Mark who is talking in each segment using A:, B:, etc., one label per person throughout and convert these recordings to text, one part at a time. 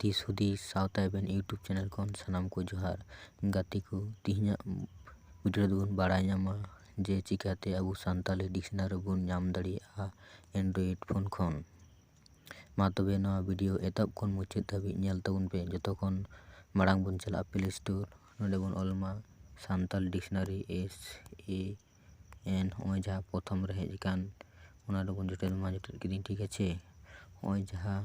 A: ᱫᱤᱥ ᱦᱩᱫᱤᱥ ᱥᱟᱶᱛᱟ ᱮᱵᱷᱮᱱ ᱤᱭᱩᱴᱩᱵᱽ ᱪᱮᱱᱮᱞ ᱠᱷᱚᱱ ᱥᱟᱱᱟᱢ ᱠᱚ ᱡᱚᱦᱟᱨ ᱜᱟᱛᱮ ᱠᱚ ᱛᱮᱦᱮᱧᱟᱜ ᱵᱷᱤᱰᱤᱭᱳ ᱨᱮᱫᱚ ᱵᱚᱱ ᱵᱟᱲᱟᱭ ᱧᱟᱢᱟ ᱡᱮ ᱪᱤᱠᱟᱹᱛᱮ ᱟᱵᱚ ᱥᱟᱱᱛᱟᱲᱤ ᱰᱤᱠᱥᱱᱟᱨᱤ ᱵᱚᱱ ᱧᱟᱢ ᱫᱟᱲᱮᱭᱟᱜᱼᱟ ᱮᱱᱰᱨᱚᱭᱮᱰ ᱯᱷᱳᱱ ᱠᱷᱚᱱ ᱢᱟ ᱛᱚᱵᱮ ᱱᱚᱣᱟ ᱵᱷᱤᱰᱤᱭᱳ ᱮᱛᱚᱦᱚᱵ ᱠᱷᱚᱱ ᱢᱩᱪᱟᱹᱫ ᱫᱷᱟᱹᱵᱤᱡ ᱧᱮᱞ ᱛᱟᱵᱚᱱ ᱯᱮ ᱡᱚᱛᱚ ᱠᱷᱚᱱ ᱢᱟᱲᱟᱝ ᱵᱚᱱ ᱪᱟᱞᱟᱜᱼᱟ ᱯᱞᱮ ᱥᱴᱳᱨ ᱚᱸᱰᱮ ᱵᱚᱱ ᱚᱞ ᱢᱟ ᱥᱟᱱᱛᱟᱲ ᱰᱤᱠᱥᱱᱟᱨᱤ ᱮᱥ ᱮ ᱮᱱ ᱱᱚᱜᱼᱚᱭ ᱡᱟᱦᱟᱸ ᱯᱨᱚᱛᱷᱚᱢ ᱨᱮ ᱦᱮᱡ ᱟᱠᱟᱱ ᱚᱱᱟ ᱨᱮᱵᱚᱱ ᱡᱚᱴᱮᱫ ᱢᱟ ᱡᱚᱴᱮᱫ ᱠᱤᱫᱟᱹᱧ ᱴᱷᱤᱠ ᱟᱪᱷᱮ ᱱᱚᱜᱼᱚᱭ ᱡᱟᱦᱟᱸ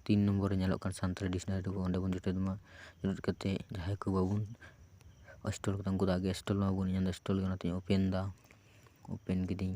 A: ᱛᱤᱱ ᱱᱚᱢᱵᱚᱨ ᱨᱮ ᱧᱮᱞᱚᱜ ᱠᱟᱱ ᱥᱟᱱᱛᱟᱲᱤ ᱰᱤᱠᱥᱱᱟᱨᱤ ᱨᱮᱵᱚ ᱚᱸᱰᱮ ᱵᱚᱱ ᱡᱚᱴᱮᱫ ᱢᱟ ᱡᱚᱴᱮᱫ ᱠᱟᱛᱮᱫ ᱡᱟᱦᱟᱸᱭ ᱠᱚ ᱵᱟᱵᱚᱱ ᱚᱥᱴᱚᱞ ᱠᱟᱫᱟ ᱩᱱᱠᱩ ᱫᱚ ᱟᱜᱮ ᱚᱥᱴᱚᱞ ᱢᱟᱵᱚᱱ ᱤᱧᱫᱚ ᱚᱥᱴᱚᱞ ᱜᱮ ᱚᱱᱟᱛᱤᱧ ᱳᱯᱮᱱ ᱮᱫᱟ ᱳᱯᱮᱱ ᱠᱤᱫᱟᱹᱧ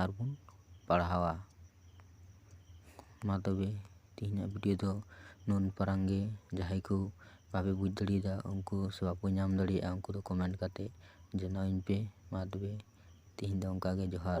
A: ᱟᱨ ᱵᱚᱱ ᱯᱟᱲᱦᱟᱣᱟ ᱢᱟ ᱛᱚᱵᱮ ᱛᱮᱦᱮᱧᱟᱜ ᱵᱷᱤᱰᱭᱳ ᱫᱚ ᱱᱩᱱ ᱯᱟᱨᱟᱝ ᱜᱮ ᱡᱟᱦᱟᱸᱭ ᱠᱚ ᱵᱟᱯᱮ ᱵᱩᱡᱽ ᱫᱟᱲᱮᱭᱟᱫᱟ ᱩᱱᱠᱩ ᱥᱮ ᱵᱟᱠᱚ ᱧᱟᱢ ᱫᱟᱲᱮᱭᱟᱜᱼᱟ ᱩᱱᱠᱩ ᱫᱚ ᱠᱚᱢᱮᱱᱴ ᱠᱟᱛᱮ ᱡᱟᱱᱟᱣ ᱤᱧ ᱯᱮ ᱢᱟ ᱛᱚᱵᱮ ᱛᱮᱦᱮᱧ ᱫᱚ ᱚᱱᱠᱟᱜᱮ ᱡᱚᱦᱟᱨ